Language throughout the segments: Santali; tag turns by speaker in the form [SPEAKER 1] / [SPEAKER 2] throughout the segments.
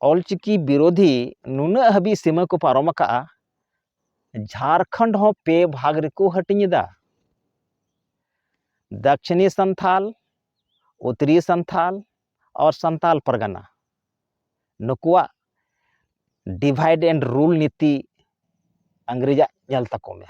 [SPEAKER 1] ᱚᱞᱪᱤᱠᱤ ᱵᱤᱨᱳᱫᱷᱤ ᱱᱩᱱᱟᱹᱜ ᱦᱟᱹᱵᱤᱡ ᱥᱤᱢᱟᱹ ᱠᱚ ᱯᱟᱨᱚᱢ ᱟᱠᱟᱜᱼᱟ ᱡᱷᱟᱲᱠᱷᱚᱸᱰ ᱦᱚᱸ ᱯᱮ ᱵᱷᱟᱜᱽ ᱨᱮᱠᱚ ᱦᱟᱹᱴᱤᱧ ᱮᱫᱟ ᱫᱟᱠᱷᱤᱱᱤ ᱥᱟᱱᱛᱷᱟᱞ ᱩᱛᱛᱚᱨᱤᱭᱟᱹ ᱥᱟᱱᱛᱷᱟᱞ ᱟᱨ ᱥᱟᱱᱛᱟᱞ ᱯᱟᱨᱜᱟᱱᱟ ᱱᱩᱠᱩᱣᱟᱜ ᱰᱤᱵᱷᱟᱭᱤᱰ ᱮᱱᱰ ᱨᱩᱞ ᱱᱤᱛᱤ ᱤᱝᱨᱮᱡᱟᱜ ᱧᱮᱞ ᱛᱟᱠᱚ ᱢᱮ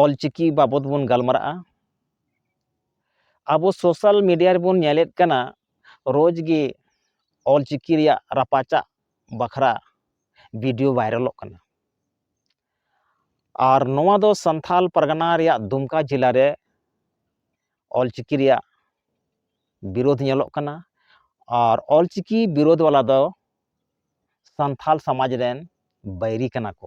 [SPEAKER 1] ᱚᱞ ᱪᱤᱠᱤ ᱵᱟᱵᱚᱛ ᱵᱚᱱ ᱜᱟᱞᱢᱟᱨᱟᱜᱼᱟ ᱟᱵᱚ ᱥᱳᱥᱟᱞ ᱢᱤᱰᱤᱭᱟ ᱨᱮᱵᱚᱱ ᱧᱮᱞᱮᱫ ᱠᱟᱱᱟ ᱨᱳᱡᱽ ᱜᱮ ᱚᱞ ᱪᱤᱠᱤ ᱨᱮᱭᱟᱜ ᱨᱟᱯᱟᱪᱟᱜ ᱵᱟᱠᱷᱨᱟ ᱵᱷᱤᱰᱤᱭᱳ ᱵᱷᱟᱭᱨᱟᱞᱚᱜ ᱠᱟᱱᱟ ᱟᱨ ᱱᱚᱣᱟ ᱫᱚ ᱥᱟᱱᱛᱷᱟᱞ ᱯᱟᱨᱜᱟᱱᱟ ᱨᱮᱭᱟᱜ ᱫᱩᱢᱠᱟ ᱡᱮᱞᱟ ᱨᱮ ᱚᱞ ᱪᱤᱠᱤ ᱨᱮᱭᱟᱜ ᱵᱤᱨᱳᱫᱷ ᱧᱮᱞᱚᱜ ᱠᱟᱱᱟ ᱟᱨ ᱚᱞ ᱪᱤᱠᱤ ᱵᱤᱨᱳᱫᱷ ᱵᱟᱞᱟ ᱫᱚ ᱥᱟᱱᱛᱷᱟᱞ ᱥᱚᱢᱟᱡᱽ ᱨᱮᱱ ᱵᱟᱹᱭᱨᱤ ᱠᱟᱱᱟ ᱠᱚ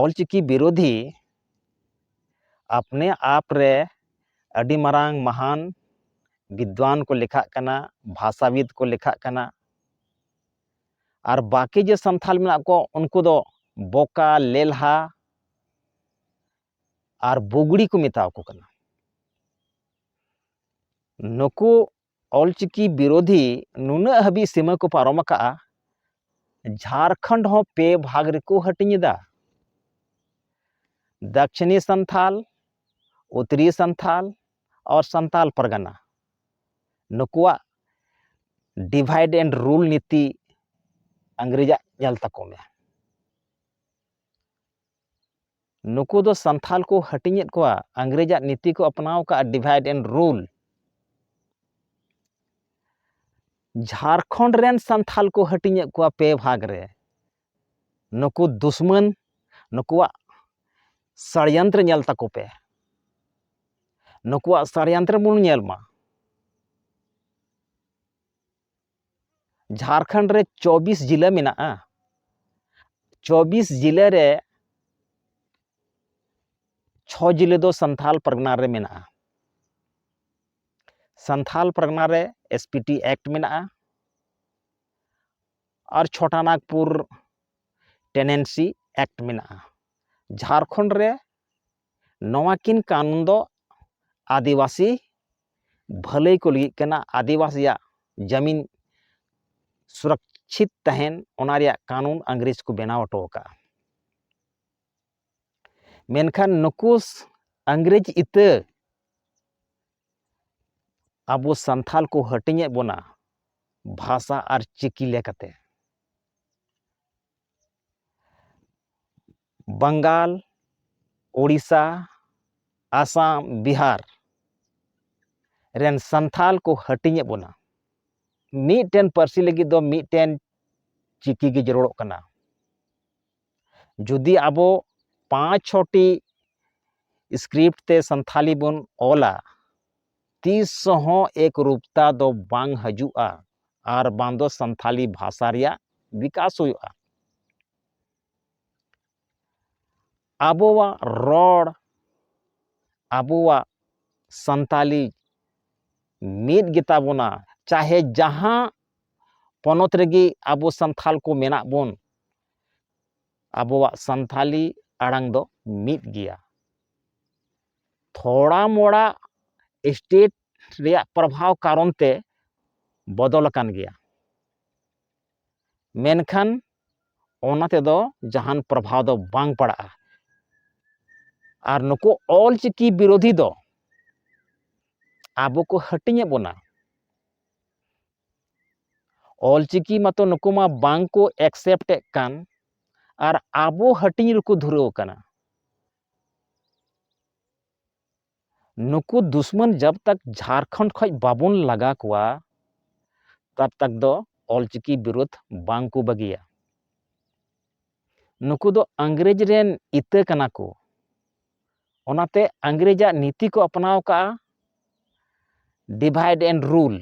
[SPEAKER 1] ᱚᱞᱪᱤᱠᱤ ᱵᱤᱨᱳᱫᱷᱤ ᱟᱯᱱᱮ ᱟᱯ ᱨᱮ ᱟᱹᱰᱤ ᱢᱟᱨᱟᱝ ᱢᱟᱦᱟᱱ ᱵᱤᱫᱽᱣᱟᱱ ᱠᱚ ᱞᱮᱠᱷᱟᱜ ᱠᱟᱱᱟ ᱵᱷᱟᱥᱟᱵᱤᱫ ᱠᱚ ᱞᱮᱠᱷᱟᱜ ᱠᱟᱱᱟ ᱟᱨ ᱵᱟᱹᱠᱤ ᱡᱮ ᱥᱟᱱᱛᱟᱲ ᱢᱮᱱᱟᱜ ᱠᱚ ᱩᱱᱠᱩ ᱫᱚ ᱵᱚᱠᱟ ᱞᱮᱞᱦᱟ ᱟᱨ ᱵᱩᱜᱽᱲᱤ ᱠᱚ ᱢᱮᱛᱟᱣᱟᱠᱚ ᱠᱟᱱᱟ ᱱᱩᱠᱩ ᱚᱞᱪᱤᱠᱤ ᱵᱤᱨᱳᱫᱷᱤ ᱱᱩᱱᱟᱹᱜ ᱦᱟᱹᱵᱤᱡ ᱥᱤᱢᱟᱹ ᱠᱚ ᱯᱟᱨᱚᱢ ᱟᱠᱟᱜᱼᱟ ᱡᱷᱟᱲᱠᱷᱚᱸᱰ ᱦᱚᱸ ᱯᱮ ᱵᱷᱟᱜᱽ ᱨᱮᱠᱚ ᱦᱟᱹᱴᱤᱧ ᱮᱫᱟ ᱫᱟᱠᱷᱤᱱᱤ ᱥᱟᱱᱛᱷᱟᱞ ᱩᱛᱛᱚᱨᱤ ᱥᱟᱱᱛᱷᱟᱞ ᱟᱨ ᱥᱟᱱᱛᱟᱞ ᱯᱟᱨᱜᱟᱱᱟ ᱱᱩᱠᱩᱣᱟᱜ ᱰᱤᱵᱷᱟᱭᱤᱰ ᱮᱱᱰ ᱨᱩᱞ ᱱᱤᱛᱤ ᱤᱝᱨᱮᱡᱟᱜ ᱧᱮᱞ ᱛᱟᱠᱚ ᱢᱮ ᱱᱩᱠᱩ ᱫᱚ ᱥᱟᱱᱛᱷᱟᱞ ᱠᱚ ᱦᱟᱹᱴᱤᱧᱮᱫ ᱠᱚᱣᱟ ᱟᱝᱜᱽᱨᱮᱡᱟᱜ ᱱᱤᱛᱤ ᱠᱚ ᱟᱯᱱᱟᱣ ᱠᱟᱜᱼᱟ ᱰᱤᱵᱷᱟᱭᱤᱰ ᱮᱱᱰ ᱨᱩᱞ ᱡᱷᱟᱲᱠᱷᱚᱸᱰ ᱨᱮᱱ ᱥᱟᱱᱛᱷᱟᱞ ᱠᱚ ᱦᱟᱹᱴᱤᱧᱮᱫ ᱠᱚᱣᱟ ᱯᱮ ᱵᱷᱟᱜᱽ ᱨᱮ ᱱᱩᱠᱩ ᱫᱩᱥᱢᱟᱱ ᱱᱩᱠᱩᱣᱟᱜ ᱥᱟᱲᱭᱟᱱᱛᱨᱮ ᱧᱮᱞ ᱛᱟᱠᱚ ᱯᱮ ᱱᱩᱠᱩᱣᱟᱜ ᱥᱟᱲᱭᱟᱱᱛᱨᱮ ᱵᱚᱱ ᱧᱮᱞ ᱢᱟ ᱡᱷᱟᱲᱠᱷᱚᱸᱰ ᱨᱮ ᱪᱚᱵᱽᱵᱤᱥ ᱡᱮᱞᱟ ᱢᱮᱱᱟᱜᱼᱟ ᱪᱚᱵᱽᱵᱤᱥ ᱡᱮᱞᱟ ᱨᱮ ᱪᱷᱚ ᱡᱮᱞᱟ ᱫᱚ ᱥᱟᱱᱛᱷᱟᱞ ᱯᱟᱨᱜᱟᱱᱟ ᱨᱮ ᱢᱮᱱᱟᱜᱼᱟ ᱥᱟᱱᱛᱷᱟᱞ ᱯᱟᱨᱜᱟᱱᱟ ᱨᱮ ᱮᱥ ᱯᱤ ᱴᱤ ᱮᱠᱴ ᱢᱮᱱᱟᱜᱼᱟ ᱟᱨ ᱪᱷᱚᱴᱟ ᱱᱟᱜᱽᱯᱩᱨ ᱴᱮᱱᱮᱱᱥᱤ ᱮᱠᱴ ᱢᱮᱱᱟᱜᱼᱟ ᱡᱷᱟᱲᱠᱷᱚᱸᱰ ᱨᱮ ᱱᱚᱣᱟ ᱠᱤᱱ ᱠᱟᱱᱩᱱ ᱫᱚ ᱟᱹᱫᱤᱵᱟᱹᱥᱤ ᱵᱷᱟᱹᱞᱟᱹᱭ ᱠᱚ ᱞᱟᱹᱜᱤᱫ ᱠᱟᱱᱟ ᱟᱹᱫᱤᱵᱟᱹᱥᱤᱭᱟᱜ ᱡᱟᱹᱢᱤᱱ ᱥᱩᱨᱚᱠᱪᱷᱤᱛ ᱛᱟᱦᱮᱱ ᱚᱱᱟ ᱨᱮᱭᱟᱜ ᱠᱟᱱᱩᱱ ᱤᱝᱨᱮᱡᱽ ᱠᱚ ᱵᱮᱱᱟᱣ ᱦᱚᱴᱚ ᱟᱠᱟᱫᱼᱟ ᱢᱮᱱᱠᱷᱟᱱ ᱱᱩᱠᱩ ᱤᱝᱨᱮᱡᱽ ᱤᱛᱟᱹ ᱟᱵᱚ ᱥᱟᱱᱛᱷᱟᱞ ᱠᱚ ᱦᱟᱹᱴᱤᱧᱮᱫ ᱵᱚᱱᱟ ᱵᱷᱟᱥᱟ ᱟᱨ ᱪᱤᱠᱤ ᱞᱮᱠᱟᱛᱮ ᱵᱟᱝᱜᱟᱞ ᱳᱰᱤᱥᱟ ᱟᱥᱟᱢ ᱵᱤᱦᱟᱨ ᱨᱮᱱ ᱥᱟᱱᱛᱟᱲ ᱠᱚ ᱦᱟᱹᱴᱤᱧᱮᱫ ᱵᱚᱱᱟ ᱢᱤᱫᱴᱮᱱ ᱯᱟᱹᱨᱥᱤ ᱞᱟᱹᱜᱤᱫ ᱫᱚ ᱢᱤᱫᱴᱮᱱ ᱪᱤᱠᱤ ᱜᱮ ᱡᱟᱹᱨᱩᱲᱚᱜ ᱠᱟᱱᱟ ᱡᱩᱫᱤ ᱟᱵᱚ ᱯᱟᱸᱪ ᱪᱷᱚᱴᱤ ᱥᱠᱨᱤᱯᱴ ᱛᱮ ᱥᱟᱱᱛᱟᱲᱤ ᱵᱚᱱ ᱚᱞᱟ ᱛᱤᱥ ᱦᱚᱸ ᱮᱠ ᱨᱩᱯᱛᱟ ᱫᱚ ᱵᱟᱝ ᱦᱤᱡᱩᱜᱼᱟ ᱟᱨ ᱵᱟᱝ ᱫᱚ ᱥᱟᱱᱛᱟᱲᱤ ᱵᱷᱟᱥᱟ ᱨᱮᱭᱟᱜ ᱵᱤᱠᱟᱥ ᱦᱩᱭᱩᱜᱼᱟ ᱟᱵᱚᱣᱟᱜ ᱨᱚᱲ ᱟᱵᱚᱣᱟᱜ ᱥᱟᱱᱛᱟᱞᱤ ᱢᱤᱫ ᱜᱮᱛᱟ ᱵᱚᱱᱟ ᱪᱟᱦᱮ ᱡᱟᱦᱟᱸ ᱯᱚᱱᱚᱛ ᱨᱮᱜᱮ ᱟᱵᱚ ᱥᱟᱱᱛᱷᱟᱞ ᱠᱚ ᱢᱮᱱᱟᱜ ᱵᱚᱱ ᱟᱵᱚᱣᱟᱜ ᱥᱟᱱᱛᱷᱟᱞᱤ ᱟᱲᱟᱝ ᱫᱚ ᱢᱤᱫ ᱜᱮᱭᱟ ᱛᱷᱚᱲᱟ ᱢᱚᱲᱟ ᱥᱴᱮᱴ ᱨᱮᱭᱟᱜ ᱯᱨᱚᱵᱷᱟᱣ ᱠᱟᱨᱚᱱ ᱛᱮ ᱵᱚᱫᱚᱞ ᱟᱠᱟᱱ ᱜᱮᱭᱟ ᱢᱮᱱᱠᱷᱟᱱ ᱚᱱᱟ ᱛᱮᱫᱚ ᱡᱟᱦᱟᱱ ᱯᱨᱚᱵᱷᱟᱵᱽ ᱫᱚ ᱵᱟᱝ ᱯᱟᱲᱟᱜᱼᱟ ᱟᱨ ᱱᱩᱠᱩ ᱚᱞ ᱪᱤᱠᱤ ᱵᱤᱨᱳᱫᱷᱤ ᱫᱚ ᱟᱵᱚ ᱠᱚ ᱦᱟᱹᱴᱤᱧᱮᱫ ᱵᱚᱱᱟ ᱚᱞ ᱪᱤᱠᱤ ᱢᱟᱛᱚ ᱱᱩᱠᱩ ᱢᱟ ᱵᱟᱝ ᱠᱚ ᱮᱠᱥᱮᱯᱴ ᱮᱫ ᱠᱟᱱ ᱟᱨ ᱟᱵᱚ ᱦᱟᱹᱴᱤᱧ ᱨᱮᱠᱚ ᱫᱷᱩᱨᱟᱹᱣ ᱟᱠᱟᱱᱟ ᱱᱩᱠᱩ ᱫᱩᱥᱢᱟᱹᱱ ᱡᱟᱵᱽ ᱛᱟᱠ ᱡᱷᱟᱨᱠᱷᱚᱸᱰ ᱠᱷᱚᱡ ᱵᱟᱵᱚᱱ ᱞᱟᱜᱟ ᱠᱚᱣᱟ ᱛᱟᱵᱽ ᱛᱟᱠ ᱫᱚ ᱚᱞᱪᱤᱠᱤ ᱵᱤᱨᱳᱫᱷ ᱵᱟᱝ ᱠᱚ ᱵᱟᱹᱜᱤᱭᱟ ᱱᱩᱠᱩ ᱫᱚ ᱟᱝᱜᱽᱨᱮᱡᱽ ᱨᱮᱱ ᱤᱛᱟᱹ ᱠᱟᱱᱟ ᱠᱚ ᱚᱱᱟᱛᱮ ᱟᱝᱜᱽᱨᱮᱡᱟᱜ ᱱᱤᱛᱤ ᱠᱚ ᱟᱯᱱᱟᱣ ᱠᱟᱜᱼᱟ ᱰᱤᱵᱷᱟᱭᱤᱰ ᱮᱱᱰ ᱨᱩᱞ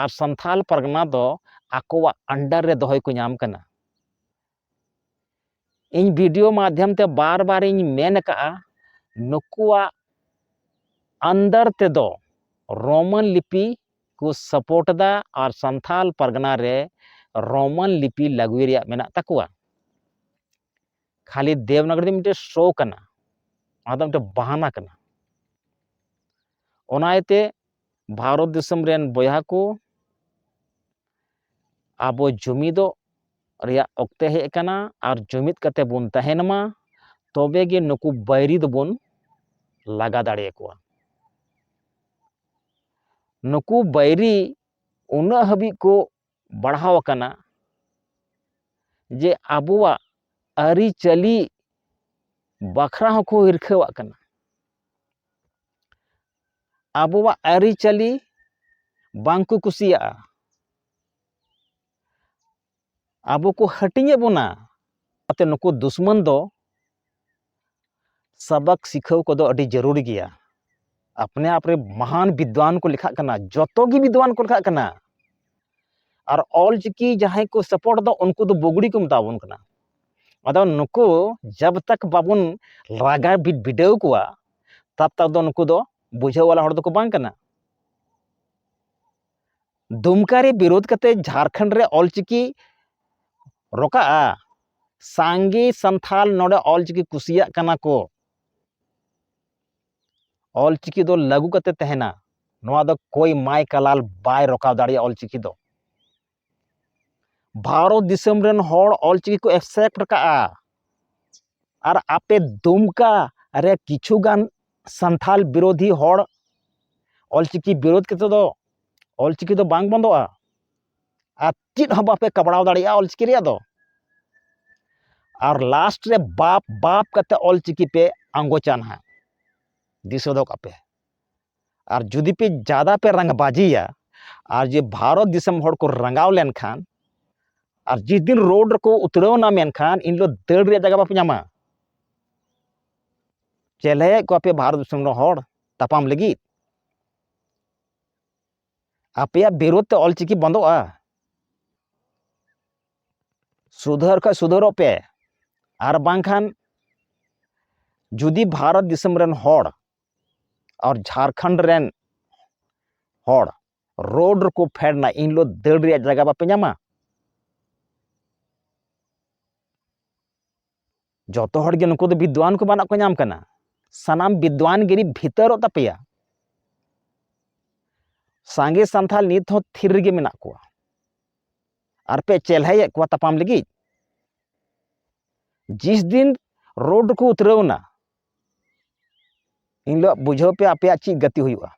[SPEAKER 1] ᱟᱨ ᱥᱟᱱᱛᱷᱟᱞ ᱯᱟᱨᱜᱟᱱᱟ ᱫᱚ ᱟᱠᱚᱣᱟᱜ ᱟᱱᱰᱟᱨ ᱨᱮ ᱫᱚᱦᱚᱭ ᱠᱚ ᱧᱟᱢ ᱠᱟᱱᱟ ᱤᱧ ᱵᱷᱤᱰᱤᱭᱳ ᱢᱟᱫᱽᱫᱷᱚᱢ ᱛᱮ ᱵᱟᱨ ᱵᱟᱨ ᱤᱧ ᱢᱮᱱ ᱟᱠᱟᱫᱼᱟ ᱱᱩᱠᱩᱣᱟᱜ ᱟᱱᱫᱟᱨ ᱛᱮᱫᱚ ᱨᱳᱢᱟᱱ ᱞᱤᱯᱤ ᱠᱚ ᱥᱟᱯᱳᱨᱴ ᱮᱫᱟ ᱟᱨ ᱥᱟᱱᱛᱷᱟᱞ ᱯᱟᱨᱜᱟᱱᱟ ᱨᱮ ᱨᱳᱢᱟᱱ ᱞᱤᱯᱤ ᱞᱟᱹᱜᱩᱭ ᱨᱮᱭᱟᱜ ᱢᱮᱱᱟᱜ ᱛᱟᱠᱚᱣᱟ ᱠᱷᱟᱹᱞᱤ ᱫᱮᱵᱽᱱᱟᱜᱚᱨᱤ ᱫᱚ ᱢᱤᱫᱴᱮᱱ ᱥᱳ ᱠᱟᱱᱟ ᱚᱱᱟ ᱫᱚ ᱢᱤᱫᱴᱮᱱ ᱵᱟᱦᱟᱱᱟ ᱠᱟᱱᱟ ᱚᱱᱟ ᱤᱭᱟᱹᱛᱮ ᱵᱷᱟᱨᱚᱛ ᱫᱤᱥᱚᱢ ᱨᱮᱱ ᱵᱚᱭᱦᱟ ᱠᱚ ᱟᱵᱚ ᱡᱩᱢᱤᱫᱚᱜ ᱨᱮᱭᱟᱜ ᱚᱠᱛᱮ ᱦᱮᱡ ᱟᱠᱟᱱᱟ ᱟᱨ ᱡᱩᱢᱤᱫ ᱠᱟᱛᱮ ᱵᱚᱱ ᱛᱟᱦᱮᱱ ᱢᱟ ᱛᱚᱵᱮ ᱜᱮ ᱱᱩᱠᱩ ᱵᱟᱹᱭᱨᱤ ᱫᱚᱵᱚᱱ ᱞᱟᱜᱟ ᱫᱟᱲᱮᱭᱟᱠᱚᱣᱟ ᱱᱩᱠᱩ ᱵᱟᱹᱭᱨᱤ ᱩᱱᱟᱹᱜ ᱦᱟᱹᱵᱤᱡ ᱠᱚ ᱵᱟᱲᱦᱟᱣ ᱟᱠᱟᱱᱟ ᱡᱮ ᱟᱵᱚᱣᱟᱜ ᱟᱹᱨᱤᱪᱟᱹᱞᱤ ᱵᱟᱠᱷᱨᱟ ᱦᱚᱸᱠᱚ ᱦᱤᱨᱠᱷᱟᱹᱣᱟᱜ ᱠᱟᱱᱟ ᱟᱵᱚᱣᱟᱜ ᱟᱹᱨᱤᱪᱟᱹᱞᱤ ᱵᱟᱝ ᱠᱚ ᱠᱩᱥᱤᱭᱟᱜᱼᱟ ᱟᱵᱚ ᱠᱚ ᱦᱟᱹᱴᱤᱧᱮᱫ ᱵᱚᱱᱟ ᱚᱱᱟᱛᱮ ᱱᱩᱠᱩ ᱫᱩᱥᱢᱚᱱ ᱫᱚ ᱥᱟᱵᱟᱠ ᱥᱤᱠᱷᱟᱹᱣ ᱠᱚᱫᱚ ᱟᱹᱰᱤ ᱡᱟᱹᱨᱩᱲ ᱜᱮᱭᱟ ᱟᱯᱱᱮ ᱟᱯᱨᱮ ᱢᱟᱦᱟᱱ ᱵᱤᱫᱽᱣᱟᱱ ᱠᱚ ᱞᱮᱠᱷᱟᱜ ᱠᱟᱱᱟ ᱡᱚᱛᱚ ᱜᱮ ᱵᱤᱫᱽᱣᱟᱱ ᱠᱚ ᱞᱮᱠᱷᱟᱜ ᱠᱟᱱᱟ ᱟᱨ ᱚᱞ ᱪᱤᱠᱤ ᱡᱟᱦᱟᱸᱭ ᱠᱚ ᱥᱟᱯᱳᱨᱴ ᱫᱚ ᱩᱱᱠᱩ ᱫᱚ ᱵᱩᱜᱽᱲᱤ ᱠᱚ ᱢᱮᱛᱟ ᱵᱚᱱ ᱠᱟᱱᱟ ᱟᱫᱚ ᱱᱩᱠᱩ ᱡᱟᱵ ᱛᱟᱠ ᱵᱟᱵᱚᱱ ᱨᱟᱜᱟ ᱵᱤᱰᱟᱹᱣ ᱠᱚᱣᱟ ᱛᱟᱵ ᱛᱟᱠ ᱫᱚ ᱱᱩᱠᱩ ᱫᱚ ᱵᱩᱡᱷᱟᱹᱣ ᱣᱟᱞᱟ ᱦᱚᱲ ᱫᱚᱠᱚ ᱵᱟᱝ ᱠᱟᱱᱟ ᱫᱩᱢᱠᱟ ᱨᱮ ᱵᱤᱨᱳᱫᱷ ᱠᱟᱛᱮ ᱡᱷᱟᱨᱠᱷᱚᱸᱰ ᱨᱮ ᱚᱞ ᱪᱤᱠᱤ ᱨᱚᱠᱟᱜᱼᱟ ᱥᱟᱸᱜᱮ ᱥᱟᱱᱛᱷᱟᱞ ᱱᱚᱰᱮ ᱚᱞ ᱪᱤᱠᱤ ᱠᱩᱥᱤᱭᱟᱜ ᱠᱟᱱᱟ ᱠᱚ ᱚᱞ ᱪᱤᱠᱤ ᱫᱚ ᱞᱟᱹᱜᱩ ᱠᱟᱛᱮ ᱛᱟᱦᱮᱱᱟ ᱱᱚᱣᱟ ᱫᱚ ᱠᱚᱭ ᱢᱟᱭ ᱠᱟᱞᱟᱞ ᱵᱟᱭ ᱨᱚᱠᱟᱣ ᱫᱟᱲᱮᱭᱟᱜᱼᱟ ᱚᱞ ᱪᱤᱠᱤ ᱫᱚ ᱵᱷᱟᱨᱚᱛ ᱫᱤᱥᱚᱢ ᱨᱮᱱ ᱦᱚᱲ ᱚᱞ ᱪᱤᱠᱤ ᱠᱚ ᱮᱠᱥᱮᱯᱴ ᱠᱟᱜᱼᱟ ᱟᱨ ᱟᱯᱮ ᱫᱩᱢᱠᱟ ᱨᱮ ᱠᱤᱪᱷᱩ ᱜᱟᱱ ᱥᱟᱱᱛᱷᱟᱞ ᱵᱤᱨᱳᱫᱷᱤ ᱦᱚᱲ ᱚᱞ ᱪᱤᱠᱤ ᱵᱤᱨᱳᱫᱷ ᱠᱟᱛᱮ ᱫᱚ ᱚᱞ ᱪᱤᱠᱤ ᱫᱚ ᱵᱟᱝ ᱵᱚᱱᱫᱚᱜᱼᱟ ᱟᱨ ᱪᱮᱫ ᱦᱚᱸ ᱵᱟᱯᱮ ᱠᱟᱵᱲᱟᱣ ᱫᱟᱲᱮᱭᱟᱜᱼᱟ ᱚᱞ ᱪᱤᱠᱤ ᱨᱮᱭᱟᱜ ᱫᱚ ᱟᱨ ᱞᱟᱥᱴ ᱨᱮ ᱵᱟᱯ ᱵᱟᱯ ᱠᱟᱛᱮ ᱚᱞ ᱪᱤᱠᱤ ᱯᱮ ᱟᱸᱜᱚᱪᱟ ᱱᱟᱦᱟᱜ ᱫᱤᱥᱟᱹ ᱫᱚᱦᱚ ᱠᱟᱜ ᱯᱮ ᱟᱨ ᱡᱩᱫᱤ ᱯᱮ ᱡᱟᱫᱟ ᱯᱮ ᱨᱟᱝᱵᱟᱡᱤᱭᱟ ᱟᱨ ᱡᱮ ᱵᱷᱟᱨᱚᱛ ᱫᱤᱥᱚᱢ ᱦᱚᱲ ᱠᱚ ᱨᱟᱸᱜᱟᱣ ᱞᱮᱱᱠᱷᱟᱱ ᱟᱨ ᱡᱤᱥ ᱫᱤᱱ ᱨᱳᱰ ᱨᱮᱠᱚ ᱩᱛᱨᱟᱹᱣᱱᱟ ᱢᱮᱱᱠᱷᱟᱱ ᱤᱱ ᱦᱤᱞᱳᱜ ᱫᱟᱹᱲ ᱨᱮᱭᱟᱜ ᱡᱟᱭᱜᱟ ᱵᱟᱯᱮ ᱧᱟᱢᱟ ᱪᱮᱞᱮᱭᱮᱫ ᱠᱚᱣᱟ ᱯᱮ ᱵᱷᱟᱨᱚᱛ ᱫᱤᱥᱚᱢ ᱨᱮᱱ ᱦᱚᱲ ᱛᱟᱯᱟᱢ ᱞᱟᱹᱜᱤᱫ ᱟᱯᱮᱭᱟᱜ ᱵᱤᱨᱳᱫᱷ ᱛᱮ ᱚᱞᱪᱤᱠᱤ ᱵᱚᱱᱫᱚᱜᱼᱟ ᱥᱩᱫᱷᱟᱹᱨ ᱠᱷᱚᱡ ᱥᱩᱫᱷᱟᱹᱨᱚᱜ ᱯᱮ ᱟᱨ ᱵᱟᱝᱠᱷᱟᱱ ᱡᱩᱫᱤ ᱵᱷᱟᱨᱚᱛ ᱫᱤᱥᱚᱢ ᱨᱮᱱ ᱦᱚᱲ ᱟᱨ ᱡᱷᱟᱲᱠᱷᱚᱸᱰ ᱨᱮᱱ ᱦᱚᱲ ᱨᱳᱰ ᱨᱮᱠᱚ ᱯᱷᱮᱰᱱᱟ ᱤᱱ ᱦᱤᱞᱳᱜ ᱫᱟᱹᱲ ᱨᱮᱭᱟᱜ ᱡᱟᱭᱜᱟ ᱵᱟᱯᱮ ᱧᱟᱢᱟ ᱡᱚᱛᱚ ᱦᱚᱲ ᱜᱮ ᱱᱩᱠᱩ ᱫᱚ ᱵᱤᱫᱽᱣᱟᱱ ᱠᱚ ᱵᱟᱱᱟᱜ ᱠᱚ ᱧᱟᱢ ᱠᱟᱱᱟ ᱥᱟᱱᱟᱢ ᱵᱤᱫᱽᱣᱟᱱ ᱜᱤᱨᱤ ᱵᱷᱤᱛᱟᱹᱨᱚᱜ ᱛᱟᱯᱮᱭᱟ ᱥᱟᱸᱜᱮ ᱥᱟᱱᱛᱷᱟᱞ ᱱᱤᱛ ᱦᱚᱸ ᱛᱷᱤᱨ ᱨᱮᱜᱮ ᱢᱮᱱᱟᱜ ᱠᱚᱣᱟ ᱟᱨ ᱯᱮ ᱪᱮᱞᱦᱟᱭᱮᱫ ᱠᱚᱣᱟ ᱛᱟᱯᱟᱢ ᱞᱟᱹᱜᱤᱫ ᱡᱤᱥ ᱫᱤᱱ ᱨᱳᱰ ᱠᱚ ᱩᱛᱨᱟᱹᱣᱱᱟ ᱮᱱᱦᱤᱞᱳᱜ ᱵᱩᱡᱷᱟᱹᱣ ᱯᱮ ᱟᱯᱮᱭᱟᱜ ᱪᱮᱫ ᱜᱟᱛᱮ ᱦᱩᱭᱩᱜᱼᱟ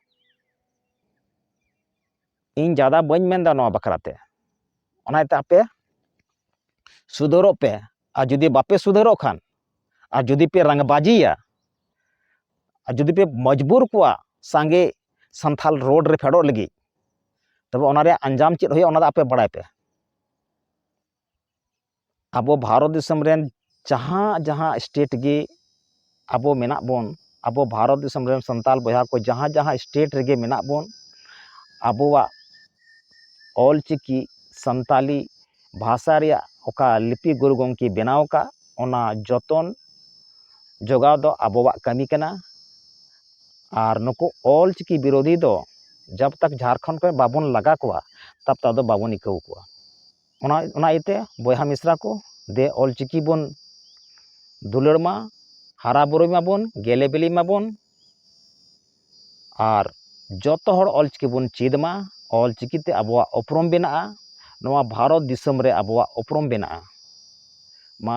[SPEAKER 1] ᱤᱧ ᱡᱟᱫᱟ ᱵᱟᱹᱧ ᱢᱮᱱᱫᱟ ᱱᱚᱣᱟ ᱵᱟᱠᱷᱨᱟᱛᱮ ᱚᱱᱟᱛᱮ ᱟᱯᱮ ᱥᱩᱫᱷᱟᱹᱨᱚᱜ ᱯᱮ ᱟᱨ ᱡᱩᱫᱤ ᱵᱟᱯᱮ ᱥᱩᱫᱷᱟᱹᱨᱚᱜ ᱠᱷᱟᱱ ᱟᱨ ᱡᱩᱫᱤ ᱯᱮ ᱨᱟᱝᱵᱟᱡᱤᱭᱟ ᱟᱨ ᱡᱩᱫᱤ ᱯᱮ ᱢᱚᱡᱽᱵᱩᱨ ᱠᱚᱣᱟ ᱥᱟᱸᱜᱮ ᱥᱟᱱᱛᱷᱟᱞ ᱨᱳᱰ ᱨᱮ ᱯᱷᱮᱰᱚᱜ ᱞᱟᱹᱜᱤᱫ ᱛᱚᱵᱮ ᱚᱱᱟ ᱨᱮᱭᱟᱜ ᱟᱧᱡᱟᱢ ᱪᱮᱫ ᱦᱩᱭᱩᱜᱼᱟ ᱚᱱᱟ ᱫᱚ ᱟᱯᱮ ᱵᱟᱲᱟᱭ ᱯᱮ ᱟᱵᱚ ᱵᱷᱟᱨᱚᱛ ᱫᱤᱥᱚᱢ ᱨᱮᱱ ᱡᱟᱦᱟᱸ ᱡᱟᱦᱟᱸ ᱥᱴᱮᱴ ᱜᱮ ᱟᱵᱚ ᱢᱮᱱᱟᱜ ᱵᱚᱱ ᱟᱵᱚ ᱵᱷᱟᱨᱚᱛ ᱫᱤᱥᱚᱢ ᱨᱮᱱ ᱥᱟᱱᱛᱟᱞ ᱵᱚᱭᱦᱟ ᱠᱚ ᱡᱟᱦᱟᱸ ᱡᱟᱦᱟᱸ ᱥᱴᱮᱴ ᱨᱮᱜᱮ ᱢᱮᱱᱟᱜ ᱵᱚᱱ ᱟᱵᱚᱣᱟᱜ ᱚᱞ ᱪᱤᱠᱤ ᱥᱟᱱᱛᱟᱞᱤ ᱵᱷᱟᱥᱟ ᱨᱮᱭᱟᱜ ᱚᱠᱟ ᱞᱤᱯᱤ ᱜᱩᱨᱩ ᱜᱚᱝᱠᱮ ᱵᱮᱱᱟᱣ ᱟᱠᱟᱫ ᱚᱱᱟ ᱡᱚᱛᱚᱱ ᱡᱚᱜᱟᱣ ᱫᱚ ᱟᱵᱚᱣᱟᱜ ᱠᱟᱹᱢᱤ ᱠᱟᱱᱟ ᱟᱨ ᱱᱩᱠᱩ ᱚᱞ ᱪᱤᱠᱤ ᱵᱤᱨᱳᱫᱷᱤ ᱫᱚ ᱡᱟᱵᱽ ᱛᱟᱠ ᱡᱷᱟᱨᱠᱷᱚᱸᱰ ᱠᱷᱚᱱ ᱵᱟᱵᱚᱱ ᱞᱟᱜᱟ ᱠᱚᱣᱟ ᱛᱟᱵᱽ ᱛᱟᱠ ᱫᱚ ᱵᱟᱵᱚᱱ ᱟᱹᱭᱠᱟᱹᱣ ᱠᱚᱣᱟ ᱚᱱᱟ ᱚᱱᱟ ᱤᱭᱟᱹᱛᱮ ᱵᱚᱭᱦᱟ ᱢᱤᱥᱨᱟ ᱠᱚ ᱫᱮ ᱚᱞ ᱪᱤᱠᱤ ᱵᱚᱱ ᱫᱩᱞᱟᱹᱲ ᱢᱟ ᱦᱟᱨᱟ ᱵᱩᱨᱩᱭ ᱢᱟᱵᱚᱱ ᱜᱮᱞᱮ ᱵᱤᱞᱤ ᱢᱟᱵᱚᱱ ᱟᱨ ᱡᱚᱛᱚ ᱦᱚᱲ ᱚᱞ ᱪᱤᱠᱤ ᱵᱚᱱ ᱪᱮᱫ ᱢᱟ ᱚᱞ ᱪᱤᱠᱤ ᱛᱮ ᱟᱵᱚᱣᱟᱜ ᱩᱯᱨᱩᱢ ᱵᱮᱱᱟᱜᱼᱟ ᱱᱚᱣᱟ ᱵᱷᱟᱨᱚᱛ ᱫᱤᱥᱚᱢ ᱨᱮ ᱟᱵᱚᱣᱟᱜ ᱩᱯᱨᱩᱢ ᱵᱮᱱᱟᱜᱼᱟ ᱢᱟ